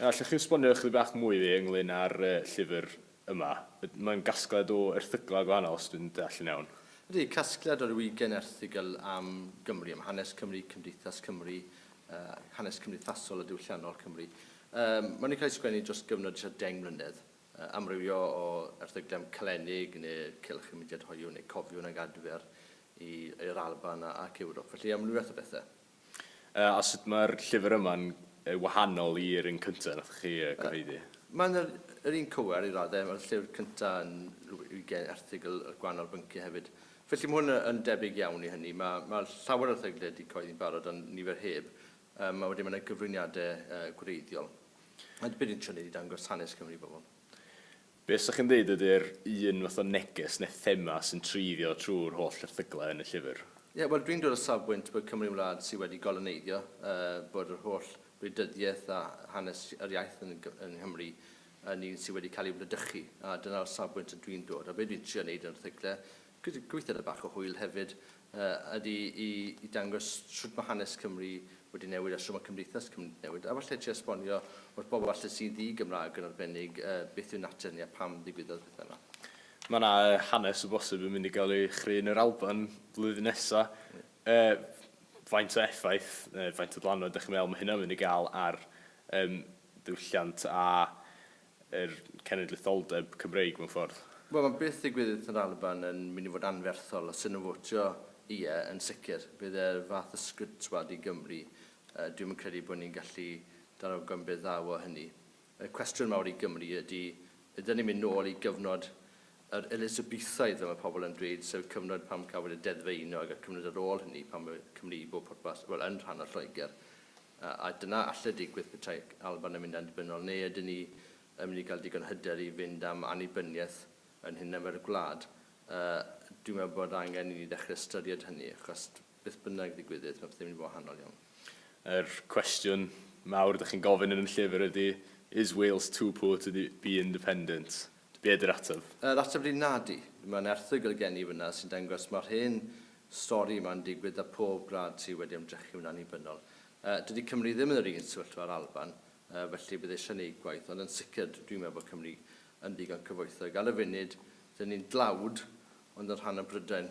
Allwch chi esbonio ychydig bach mwy i fi ynglŷn â'r llyfr yma? Mae'n gasgliad o erthyglau gwahanol, os dwi'n deall yn iawn. Ydy, casgliad o ryw ugain erthygl am Gymru, am hanes Cymru, cymdeithas Cymru, hanes cymdeithasol a diwylliannol Cymru. Mae nhw'n cael eu sgwennu dros gyfnod tua deng mlynedd. Amrywio o erthyglau am Calennig neu Cylch y Mudiad Hoyw neu Cofiwn ag Adfer i'r Alban ac Ewrop, felly amrywiaeth o bethau. A sut mae'r llyfr yma'n wahanol i'r un cyntaf nathoch chi gyhoeddi? Mae'n yr un cywer i raddau, mae'r llyfr cyntaf yn rhyw ugain erthygl ar gwahanol bynciau hefyd. Felly mae hwn yn debyg iawn i hynny. Mae llawer o erthygle wedi cyhoeddi'n barod ond nifer heb, a wedyn mae yna gyflwyniadau gwreiddiol. A be dwi'n trio wneud yw dangos hanes Cymru i bobl. Be 'sech chi'n ddeud ydy'r un fath o neges neu thema sy'n treiddio trwy'r holl erthyglau yn y llyfr? Ie, wel dwi'n dod o safbwynt bod Cymru'n wlad sydd wedi goloneiddio, bod yr holl wleidyddiaeth a hanes yr iaith yn yng Nghymru yn un sydd wedi cael ei wledychu, a dyna'r safbwynt ydw i'n dod. A be dwi'n trio wneud yn yr erthyglau Gweithdai bach o hwyl hefyd ydy i dangos shwt mae hanes Cymru wedi newid a shwt mae cymdeithas Cymru wedi newid, a falle trio esbonio wrth bobl falle sy'n ddi-Gymraeg yn arbennig beth yw natur ni a pam ddigwyddodd y pethau yma. Mae yna hanes o bosib yn mynd i gael ei chreu yn yr Alban flwyddyn nesa'. Faint o effaith neu faint o ddylanwad dach chi'n meddwl mae hynna'n mynd i gael ar ddiwylliant a yr cenedlaetholdeb Cymreig mewn ffordd? Wel, mae beth ddigwyddith yn yr Alban yn mynd i fod anferthol, os ydyn nhw'n fotio ie, yn sicr. Bydd e'r fath ysgwyd twad i Gymru. Yy, dwi'm yn credu bod ni'n gallu dal rhag gymryd ddaw o hynny. Y cwestiwn mawr i Gymru ydy, ydyn ni'n mynd nôl i gyfnod yr Elisabethoedd, fel mae pobl yn dweud, sef cyfnod pan cafwyd y Deddf Aenog a'r cyfnod ar ôl hynny, pan oedd Cymru i bob pwrpas, wel, yn rhan o Lloegr. A dyna alle digwydd petai Alban yn mynd annibynnol, neu ydyn ni yn mynd i gael digon hyder i fynd am annibyniaeth yn hunan fel gwlad? Dwi'n meddwl bod angen i ni ddechrau ystyried hynny, achos beth bynnag ddigwyddydd, mae pethau'n mynd yn wahanol iawn. Yr cwestiwn mawr dych chi'n gofyn yn y llyfr ydy, Is Wales too poor to be independent? Be ydy'r ateb? Yr ateb ydy nadi. Mae'n erthygl gen i fan'na sy'n dangos mae'r hen stori yma'n digwydd 'da pob gwlad sydd wedi ymdrechu'n annibynnol. Yy, dydy Cymru ddim yn yr un sefyllfa â'r Alban, yy, felly bydd eisiau neud gwaith, ond yn sicr dw- dwi'n meddwl bod Cymru yn ddigon cyfoethog. Ar y funud, 'dyn ni'n dlawd, ond yn rhan o Brydain.